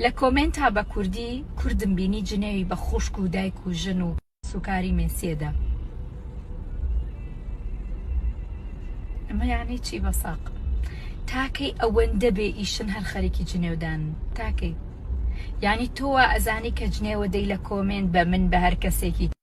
لە کۆمێنتا بە کوردی کوردم بینی جنێوی بە خوشک و دایک و ژن و کەسوکاری مێسی ئەدا ئەمە یانی چی بەساق تاکەی ئەوەندە بێ ئیشن هەر خەریکی جنێودان تاکەی یانی تۆوە ئەزانی کە جنێوە دەی لە کۆمێنت بە من بە هەر کەسێکی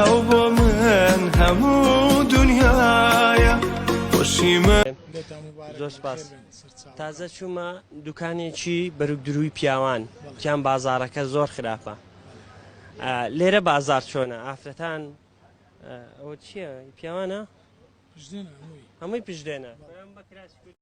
ئەو بۆ من هەموو دنیایە خۆشی من لێتان مبارەک زۆر سپاس. بەخێر بێن، سەرچاوە. تازە چوومە دوکانێکی بەروکدرووی پیاوان تیان بازاڕەکە زۆر خراپە ئا، لێرە بازاڕ چۆنە ئافرەتان ئا، ئەوە چییە پیاوانە پشدێنە هەمووی هەمووی پشدێنە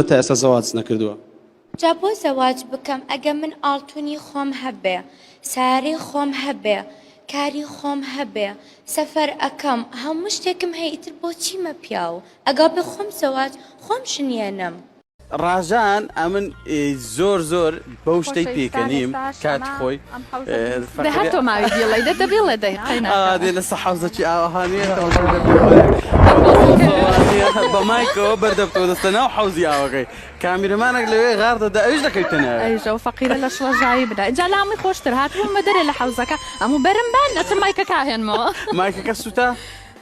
من تا ئێستا زەواج نەکردووە. جا بۆ زەواج بکەم ئەگە من ئاڵتونی خۆم هەبێ سەیارەی خۆم هەبێ کاری خۆم هەبێ سەفەر ئەکەم هەموو شتێکم هەیە ئیتر بۆ چیمە پیاو ئەگا بێ خۆم زەواج خۆم شنیەنم. ڕاژان ئەمن زۆر زۆر بەو شتەی پێکەنیم کاتی خۆی دە هەر تۆ ماوی بیڵێ دە دە بیڵێ دەی دێ لە سەحەوزەکی ئاوەهانێ بە مایکەوە بەردەبتۆ دەستە ناو حەوزی ئاوەکەی کامیرمانێک لەوێ غار دەدا ئەوش دەکەوتەنە ئەیژە و فەقیرە لە شڵەژایی بدا جا لامی خۆشتر هاتبوومە دەرێ لە حەوزەکە ئەموو بەرم بان ئەچم مایکەکە هێنمەوە مایکەکە سووتا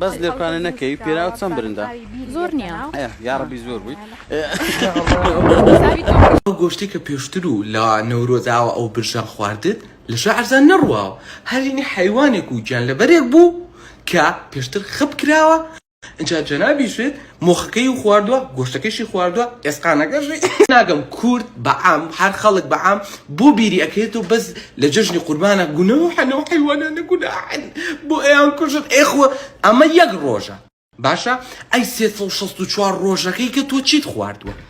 بەس لێرکانە نەکەی پێراو چەند برندە. زۆر نیە. ئەه یاڕەبی زۆر بووی. ئەو گۆشتەی کە پێشتر و لە نەورۆز ئاوا ئەو برژەم خواردت لە شارزا نەڕواوە هەرینی حەیوانێک و گیانلەبەرێک بوو کە پێشتر خپ کراوە ئنجا جەنابیشت مۆخەکەیو خواردوە گۆشتەکەیشی خواردوە ئێسقانەکەشی. ناگەم کورد بە عام هەر خەڵک بە عام بۆ بیری ئەکرێتەوە بەس لە جەژنی قوربانە گونۆحن ئەو حەیوانانە گوناحن بۆ ئەیان کوژن ئێ خۆ ئەمە یەک ڕۆژە باشە ئەی سێ سەد و شەست و چوار ڕۆژەکەی کە تۆ چیت خواردوە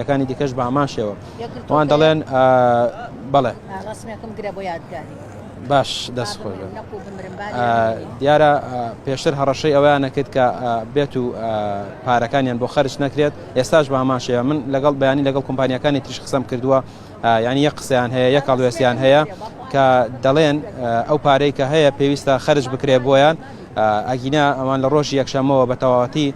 یەکانی دیکەش بە هەمان شێوە وان دەڵێن بەڵێ باش دەست خۆش دیارە پێشتر هەڕەشەی ئەویان نەکرد کە بێت و پارەکانیان بۆ خەرش نەکرێت ئێستاش بە هەمان شێوە من لەگەڵ بەیانی لەگەڵ کۆمپانیەکانی تریش قسەم کردووە یانی یەک قسەیان هەیە یەک هەڵوێستیان هەیە کە دەڵێن ئەو پارەی کە هەیە پێویستە خەرج بکرێ بۆیان ئەگینا ئەوان لە ڕۆژی یەکشەمەوە بە تەواتی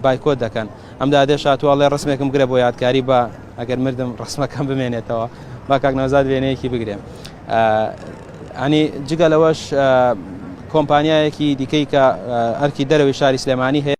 بایکۆت دەکەن ئەم دادێ شاتوواڵێ ڕسمێکم گرە بۆ یادکاری بە ئەگەر مردم ڕسمەکەم بمێنێتەوە با کاک نەوزاد وێنەیەکی بگرێم ئەنی جگە لەوەش کۆمپانیایەکی دیکەی کە ئەرکی دەرەوەی شاری سلێمانی هەیە